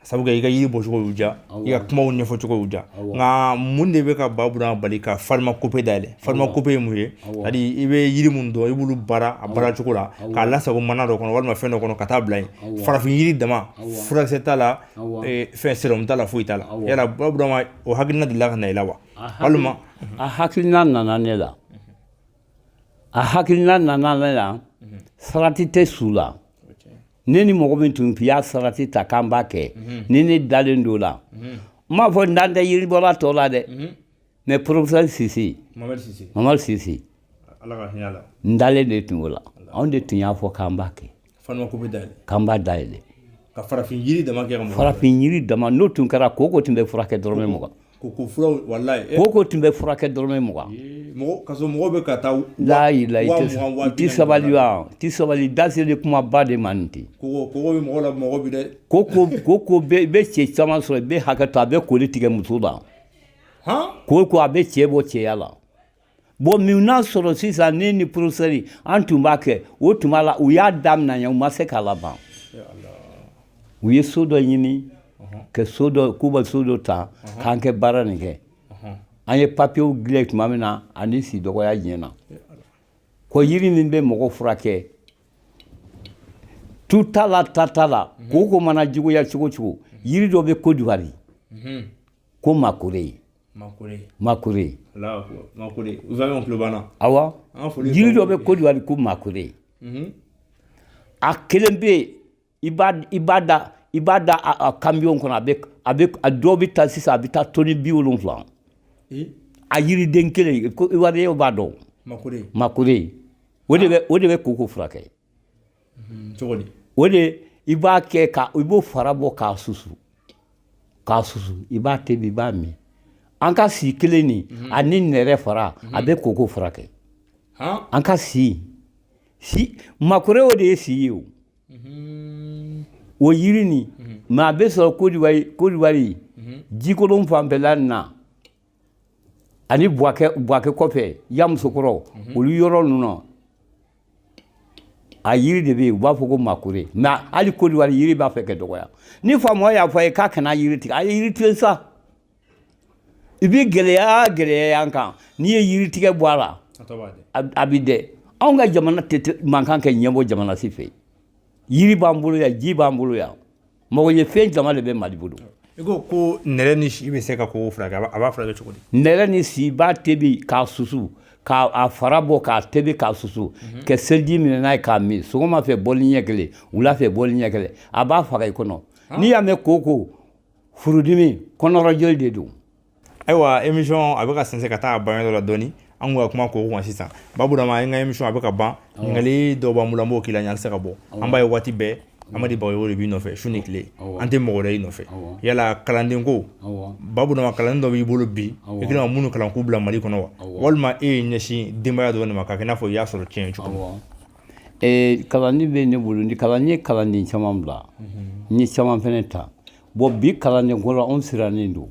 sabu i ka yiri bɔcogo y'u diya i ka kumaw ɲɛfɔcogo y'u diya nka mun de bɛ ka Baburama bali ka farimakope dayɛlɛ farimakope ye mun ye hali i bɛ yiri min dɔn i b'olu baara a baara cogo la k'a lasago mana dɔ kɔnɔ walima fɛn dɔ kɔnɔ ka taa bila yen farafin yiri dama furakisɛ t'a la fɛn serɔmu t'a la foyi t'a la yala Baburama o hakilina delila ka na i la wa walima a hakilina nana ne la a hakilina nana ne la sarati tɛ su la ne ni mɔgɔ min tun y'a sarati ta k'an b'a kɛ ni ne dalen don la n m'a fɔ n dalen tɛ yiribɔla tɔw la dɛ mɛ porofesɛri sise mamadu sise n dalen de tun o la anw de tun y'a fɔ k'an b'a kɛ Fana ko bɛ da k'an b'a dayɛlɛ ka farafin jiri dama kɛ farafin jiri dama n'o tun kɛra koko tun bɛ furakɛ dɔrɔmɛ mugan koko tun bɛ furakɛ dɔrɔmɛ mugan mɔgɔw bɛ ka taa layila tɛ sabali tɛ sabali dase de kuma ba de man ten ko koko bɛ cɛ caman sɔrɔ i bɛ hakɛ to a bɛ koli tigɛ muso la koko a bɛ cɛ bɔ cɛya la bon min n'a sɔrɔ sisan ne ni porofesɛri an tun b'a kɛ o tuma la u y'a damina yan u ma se k'a laban u ye so dɔ ɲini ka so dɔ k'u bɛ so dɔ ta k'an ka baara nin kɛ an ye papiyew dilan tuma min na ani si dɔgɔya diɲɛ na ko yiri min bɛ mɔgɔ furakɛ tu t'a la ta t'a la koko mana juguya cogo cogo yiri dɔ bɛ kodiwari ko makure awa jiri dɔ bɛ kodiwari ko makure a kelen bɛ yen i b'a da i b'a da a kamiyɔn kɔnɔ a bɛ a dɔ bɛ taa sisan a bɛ taa tɔni bi wolonwula a yiriden kelen iwariyɛnw b'a dɔn makure o de bɛ koko furakɛ cogo o de i b'a kɛ ka i b'o fara bɔ k'a susu k'a susu i b'a tebi i b'a min an ka si kelen nin mhm. ani nɛrɛ fara mhm. a bɛ koko furakɛ an ka si si makore o de ye si ye o mhm. o yiri nin mɛ a bɛ sɔrɔ kodiwari kodiwari jikolon fanfɛla ninnu na ani buwakɛ kɔfɛ yamusokoro mhm. olu yɔrɔ ninnu a yiri de bɛ yen u b'a fɔ ko makure mɛ hali kodiwari yiri b'a fɛ ka dɔgɔya ni faamaw y'a fɔ a ye k'a kana yiri tigɛ a ye yiri tigɛ sa i bɛ gɛlɛya gɛlɛya an kan n'i ye yiri tigɛ bɔ a la a bɛ dɛ anw ka jamana tun man kan ka ɲɛbɔ jamana si fɛ yiri b'an bolo yan ji b'an bolo yan mɔgɔ ye fɛn caman de bɛ mali bolo i ko ko nɛrɛ ni si bɛ se ka koko furakɛ a b'a furakɛ cogo di nɛrɛ ni si b'a tebi k'a susu k'a fara bɔ k'a tebi k'a susu mhm. kɛ seliji minɛn na i k'a min sɔgɔma fɛ bɔli ɲɛ kelen wula fɛ bɔli ɲɛ kelen a b'a faga i kɔnɔ n'i y'a mɛn koko furudimi kɔnɔrɔjoli de don Ayiwa emisiyɔn a bɛ ka sin ka taa ban yɔrɔ la dɔɔni an ka kuma ko wa sisan baburama an ka emisiyɔn a bɛ ka ban ɲininkali dɔw b'an bolo an b'o k'i la n'an se ka bɔ an b'a ye waati bɛɛ amadu bagayɔgɔ de b'i nɔfɛ su ni tile an tɛ mɔgɔ wɛrɛ y'i nɔfɛ yala kalanden ko baburama kalanden dɔ b'i bolo bi i kɛlen ka minnu kalan k'u bila mali kɔnɔ wa walima e y'i ɲɛsin denbaya dɔ de ma k'a kɛ i n'a fɔ i y'a sɔrɔ cɛn cogo min kalanden bɛ ne bolo ni kalanden n ye kalanden caman bila n ye caman fana ta bɔn bi kalandenko la anw sirannen don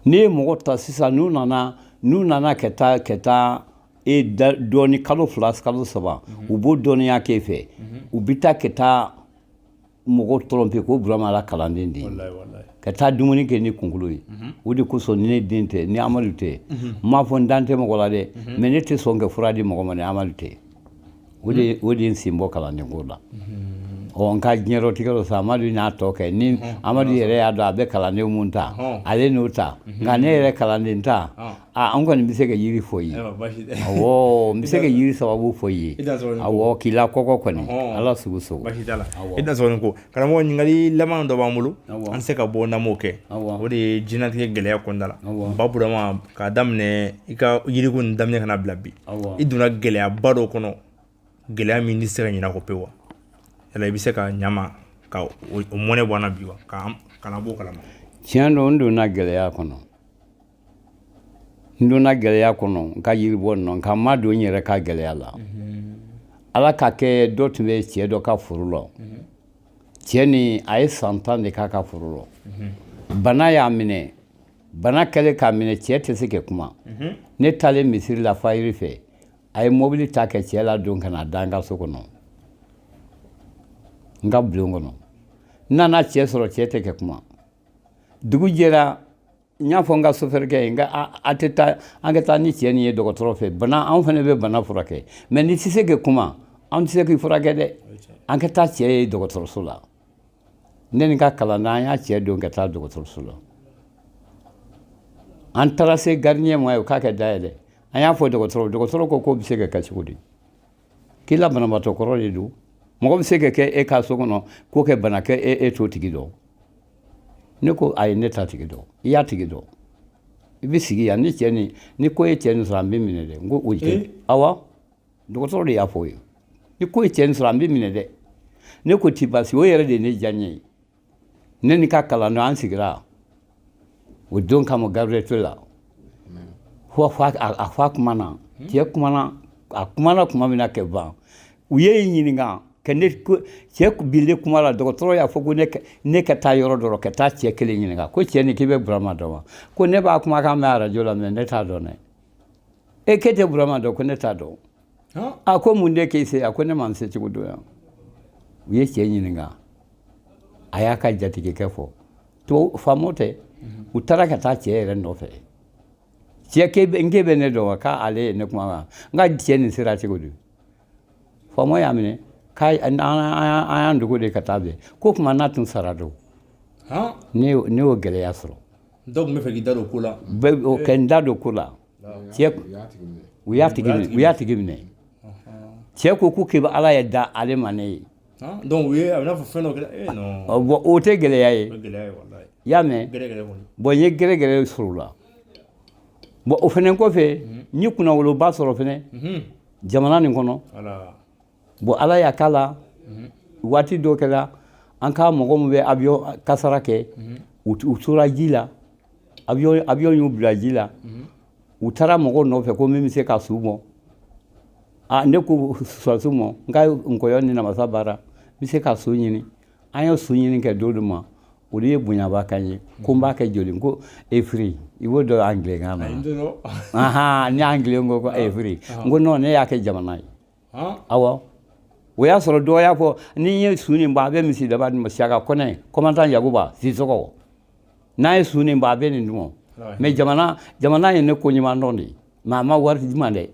n'i ye mɔgɔ ta sisan n'u nana n'u nana ka taa ka taa e dɔɔni kalo fila kalo saba u b'o dɔnniya k'e fɛ u bɛ taa ka taa mɔgɔ tɔrɔnpe ko burama la kalanden de ye ka taa dumuni kɛ ni kunkolo ye o de kosɔn ni ne den tɛ ni amadu tɛ n m'a fɔ n dan tɛ mɔgɔ la dɛ mɛ ne tɛ sɔn kɛ fura di mɔgɔ ma ni amadu tɛ o de ye n sen bɔ kalanden ko la ɔ n ka diɲɛrɔtigɛ tɔ sa amadu n'a tɔ kɛ ni amadu yɛrɛ y'a dɔn a bɛ kalanden minnu ta ale n'o ta nka ne yɛrɛ kalanden ta aa an kɔni bɛ se ka yiri fɔ i ye awɔ n bɛ se ka yiri sababu fɔ i ye awɔ k'i la kɔkɔ kɔni ala sugu so i da ko Karamɔgɔ ɲininkali laban dɔ b'an bolo an se ka bɔ n'an m'o kɛ o de ye diɲɛlatigɛ gɛlɛya kunda la baburama k'a daminɛ i ka yiriko in daminɛ ka na bila bi i donna gɛlɛyaba dɔ kɔnɔ gɛlɛya min tɛ se ka ɲinɛ a kɔ pewu wa yala i bɛ se ka ɲ'an ma ka o mɔnɛ bɔ an na bi wa k'an bɔ o kalama tiɲɛ don n donna gɛlɛya kɔnɔ n donna gɛlɛya kɔnɔ n ka yiribɔ nɔ nka n ma don n yɛrɛ ka gɛlɛya la ala k'a kɛ dɔ tun bɛ cɛ dɔ ka foro la cɛ nin a ye san tan de k'a ka foro la bana y'a minɛ bana kɛlen k'a minɛ cɛ tɛ se kɛ kuma ne taalen misiri la fayiri fɛ a ye mobili ta kɛ cɛ ladon ka na da n ka so kɔnɔ n ka bulon kɔnɔ n nana cɛ sɔrɔ cɛ tɛ kɛ kuma dugu jɛra n y'a fɔ n ka sofɛrikɛ ye n ko a tɛ taa an ka taa ni cɛ nin ye dɔgɔtɔrɔ fɛ bana anw fana bɛ bana furakɛ mɛ n'i tɛ se ka kuma anw tɛ se k'i furakɛ dɛ an ka taa cɛ ye dɔgɔtɔrɔso la ne ni n ka kalanden an ye cɛ don ka taa dɔgɔtɔrɔso la an taara se garidiɲɛ ma yen k'a ka da yɛlɛ an y'a fɔ dɔgɔtɔrɔ dɔgɔtɔrɔ ko k'o bɛ se ka kɛ cogo di K'i la banabaatɔ kɔrɔ de don mɔgɔ bɛ se ka kɛ e ka so kɔnɔ k'o kɛ bana kɛ e e t'o tigi dɔn ne ko ayi ne t'a tigi dɔn i y'a tigi dɔn i bɛ sigi yan ni cɛ ni ni ko ye cɛ nin sɔrɔ an b'i minɛ dɛ n ko o tɛ awa dɔgɔtɔrɔ de y'a fɔ o ye ni ko ye cɛ nin sɔrɔ an b'i minɛ dɛ ne ko ti basi o yɛrɛ de ye ne diya n ye ne ni ka kalandenw an sigira o don kama gabriel la fo a fa kumana cɛ kumana a kumana tuma min na ka ban u ye n ɲininka ka ne cɛ bilen kuma la dɔgɔtɔrɔ y'a fɔ ko ne ka taa yɔrɔ dɔ ka taa cɛ kelen ɲininka ko cɛ ni k'i bɛ burama dɔn wa ko ne b'a kumakan mɛn arajo la mɛ ne t'a dɔn dɛ e k'e tɛ burama dɔn ko ne t'a dɔn a ko mun de k'e se a ko ne ma n se cogo dɔn yan u ye cɛ ɲininka a y'a ka jatigikɛ fɔ tubabu faamaw tɛ mhm. u taara ka taa cɛ yɛrɛ nɔfɛ cɛ k'e bɛ n k'e bɛ ne dɔn wa k'ale ye ne kuma kan n ka cɛ nin sera cogo di faamaw y'a minɛ k'a an y'an dogo de ka taa bɛn ko kuma n'a tun sara don ne y'o gɛlɛya sɔrɔ dɔw tun bɛ fɛ k'i da don ko la bɛɛ ka n da don ko la Cɛ u y'a tigi u y'a tigi minɛ cɛ ko ko k'i ala ye da ale ma ne ye bon o tɛ gɛlɛya ye i y'a mɛn bon n ye gɛrɛgɛrɛ sɔrɔ o la bon o fɛnɛ kɔfɛ n ye kunnawoloba sɔrɔ fɛnɛ jamana nin kɔnɔ Bon ala y'a k'a la waati dɔ kɛra an ka mɔgɔ min bɛ avion kasara kɛ u tora ji la avion y'u bila ji la u taara mɔgɔw nɔfɛ ko min bɛ se ka su bɔ aa ne ko sɔrɔsiw ma n ka nkɔyɔ ni namasa baara n bɛ se ka su ɲini an ye su ɲini kɛ don dɔ ma olu ye bonyaba kɛ n ye ko n b'a kɛ joli ko efiri i b'o dɔn angilɛkan na ni angilɛ ko ko efiri n ko non ne y'a kɛ jamana ye awɔ o y'a sɔrɔ dɔw y'a fɔ ni n ye su nin bɔ a bɛ misi daba ma siyaka kɔnɛ komandan yakuba sisɔkɔ n'a ye su nin bɔ a bɛ nin dun mɛ jamana jamana ye ne ko ɲuman dɔn de mɛ a ma wari di n ma dɛ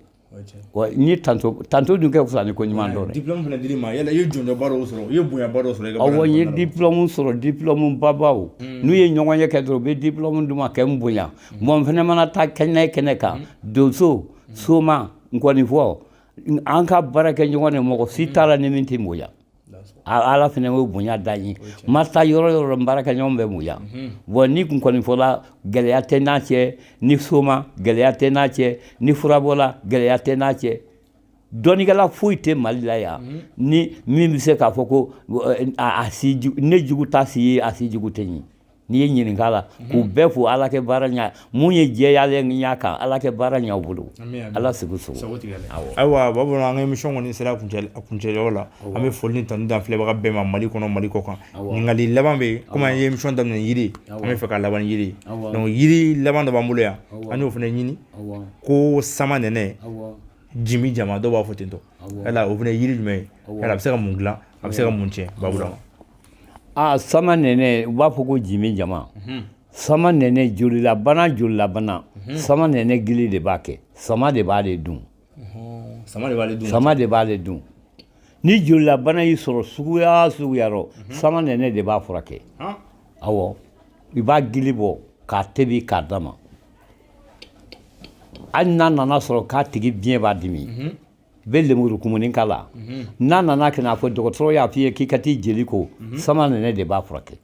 ni tanto tanto dun ka fisa ni ko ɲuman dɔn dɛ dipilɔmu fana dir'i ma yala i ye jɔnjɔnba dɔw sɔrɔ i ye bonyaba dɔw sɔrɔ awɔ n ye dipilɔmu sɔrɔ dipilɔmu babaw n'u ye ɲɔgɔn ye kɛ dɔrɔn u bɛ dipilɔmu di n ma ka n bonya bon n fana mana taa kɛnɛ kɛnɛ kan donso soma Nkɔnifɔ an ka baarakɛɲɔgɔn de mɔgɔ si t'a la ni min tɛ n bonya ala fana y'o bonya da n ye n mana taa yɔrɔ o yɔrɔ n baarakɛɲɔgɔn bɛ n bonya bon n ni nkɔnifɔla gɛlɛya tɛ n'a cɛ ni soma gɛlɛya tɛ n'a cɛ ni furabɔla gɛlɛya tɛ n'a cɛ dɔnnikɛla foyi tɛ mali la yan ni min bɛ se k'a fɔ ko ne jugu t'a si ye a si jugu tɛ n ye n'i ye ɲininka la mhm. k'u bɛɛ fo ala ka baara ɲa mun ye jɛyalen min y'a kan ala ka baara ɲa u bolo ala sago ayiwa babu an ka emisiyɔn kɔni sera a kuncɛyɔrɔ la an bɛ foli ni tanu da filɛbaga bɛɛ ma mali kɔnɔ mali kɔkan ɲininkali laban bɛ yen komi an ye emisiyɔn daminɛ yiri an bɛ fɛ ka laban ni yiri donc yiri laban dɔ b'an bolo yan an y'o fana ɲini ko samanɛnɛ jimijama dɔw b'a fɔ ten tɔ yala o fana ye yiri jumɛn ye yala a bɛ se ka mun dilan a bɛ se ka mun tiɲɛ babu ma Aa sama nɛnɛ u b'a fɔ ko jimi jama sama nɛnɛ jolilabana jolilabana sama nɛnɛ gili de b'a kɛ sama de b'ale dun sama de b'ale dun ni jolilabana y'i sɔrɔ suguya suguya rɔ sama nɛnɛ de b'a furakɛ awɔ i b'a gili bɔ k'a tobi k'a d'a ma hali n'a nana sɔrɔ k'a tigi biɲɛ b'a dimi bɛ lemuru kumuni k'a la n'a nana kɛ n'a fɔ dɔgɔtɔrɔ y'a f'i ye k'i ka t'i jeli ko sama nɛnɛ de b'a furakɛ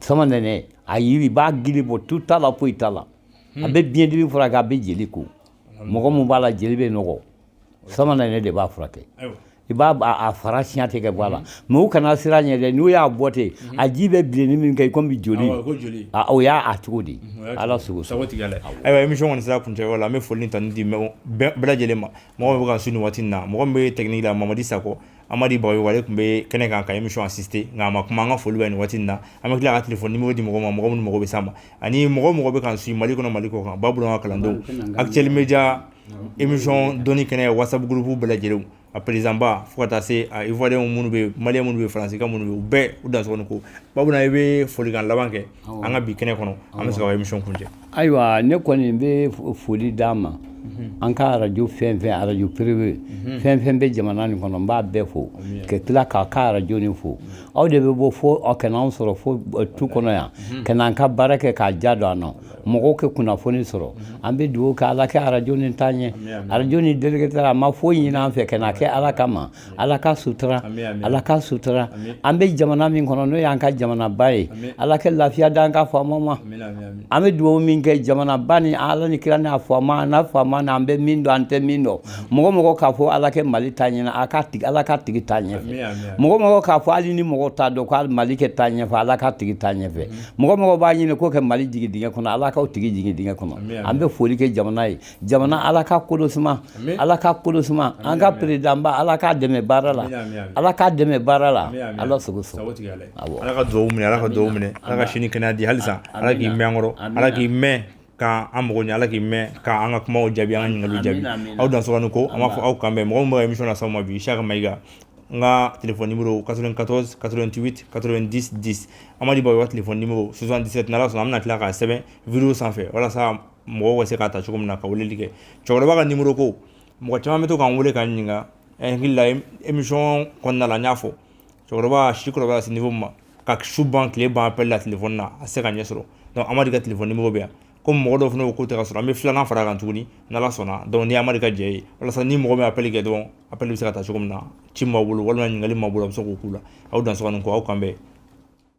sama nɛnɛ a yiri i b'a gili bɔ tu t'a la foyi t'a la a bɛ biɲɛdimi furakɛ a bɛ jeli ko mɔgɔ min b'a la jeli bɛ nɔgɔ sama nɛnɛ de b'a furakɛ i b'a fara siɲɛ ten k'a bɔ a la mais u kana siran ɲɛ dɛ n'u y'a bɔ ten mhm. a ji bɛ bilenni min kɛ i ko joli o y'a cogo di mhm, ala sago sago tigɛ ayiwa émission kɔni sera kuncɛ la an bɛ foli tanuni di bɛɛ lajɛlen ma mɔgɔ min bɛ k'an suivre nin waati in na mɔgɔ min bɛ technique la mamadi sakɔ Amadi Bagayogo ale tun bɛ kɛnɛ kan ka émission assister nka a ma kuma an ka foli bɛ nin waati na an bɛ tila ka telefɔni nimoro di mɔgɔ ma mɔgɔ minnu mago bɛ s'a ma ani mɔgɔ mɔgɔ bɛ k'an suivre mali kɔnɔ mali kɔ kan babu an ka kalandenw Actuel Média émission dɔnni kɛnɛ WhatsApp groupe bɛɛ lajɛlen a président ba fo ka taa se a ivoirienw minnu bɛ malien minnu bɛ faransika minnu bɛ u bɛɛ u dansɔgɔni ko babu i bɛ folikan laban kɛ an ka bi kɛnɛ kɔnɔ an bɛ se ka émission kuncɛ ayiwa ne kɔni n bɛ foli d'a ma an ka arajo fɛn fɛn arajo privé fɛn fɛn bɛ jamana nin kɔnɔ n b'a bɛɛ fo ka tila k'aw ka arajo nin fo aw de bɛ bɔ fo aw ka na anw sɔrɔ fo tu kɔnɔ yan ka n'an ka baara kɛ k'a ja don an na mɔgɔw ka kunnafoni sɔrɔ an bɛ dugawu kɛ ala kɛ arajo nin taa ɲɛ arajo nin délégué a ma foyi ɲini an fɛ k'a kɛ ala kama ala k'a sutura ala k'a sutura an bɛ jamana min kɔnɔ n'o y'an ka jamanaba ye ala kɛ lafiya d'an ka faamaw ma an bɛ dugawu min kɛ jamanaba ni ala ni kira n'a faama n'a faama an bɛ min dɔn an tɛ min dɔn mɔgɔ mɔgɔ k'a fɔ ala kɛ mali taa ɲɛ ala k'a tigi taa ɲɛ mɔgɔ mɔgɔ k'a fɔ hali ni mɔgɔ t'a dɔn ko mali kɛ taa ɲɛfɛ ala k'a tigi taa ɲɛfɛ mɔgɔ mɔgɔ b'a ɲini ko kɛ mali jigin dingɛ kɔnɔ ala k'a tigi jigin dingɛ kɔnɔ an bɛ foli kɛ jamana ye jamana ala ka kolo suma ala ka kolo suma an ka président ba ala k'a dɛmɛ baara la ala k'a dɛmɛ baara la ala sago ala ka dugawu minɛ ala ka dugawu minɛ ala ka si ni kɛnɛya di halisa ala k'i mɛn kɔrɔ ala k'i mɛn k'an mago ɲɛ ala k'i mɛn k'an ka kuma jaabi an ka ɲininkali jaabi aw dansɔgɔni ko an b'a fɔ aw kan bɛn mɔgɔ min ye émission las'aw ma bi Siaka Mayiga n ka telefɔni nimoro 94 88 90 10 Amadi Bagayogo ka telefɔni nimoro 77 n'Ala sɔnna an bɛna tila k'a sɛbɛn video sanfɛ walasa mɔgɔw ka se k'a ta cogo min na ka weleli kɛ cɛkɔrɔba ka nimoro ko mɔgɔ caman bɛ to k'an wele k'an ɲininka n hakili la émission kɔnɔna la n y'a fɔ cɛkɔrɔba si kɔrɔbaya se niveau min ma ka su ban tile ban appel la telefɔni na a tɛ se ka ɲɛ sɔrɔ donc Amadi ka telefɔni nimoro bɛ yan comme mɔgɔ dɔw fana ko k'u tɛ k'a sɔrɔ an bɛ filanan fara kan tuguni n'ala sɔnna donc ni amadi ka jɛ ye walasa ni mɔgɔ min appel kɛ dɔrɔn appel bɛ se ka taa cogo min na ci ma bolo walima ɲininkali ma bolo a bɛ se k'o k'u la aw dansɔgɔ ni ko aw kan bɛn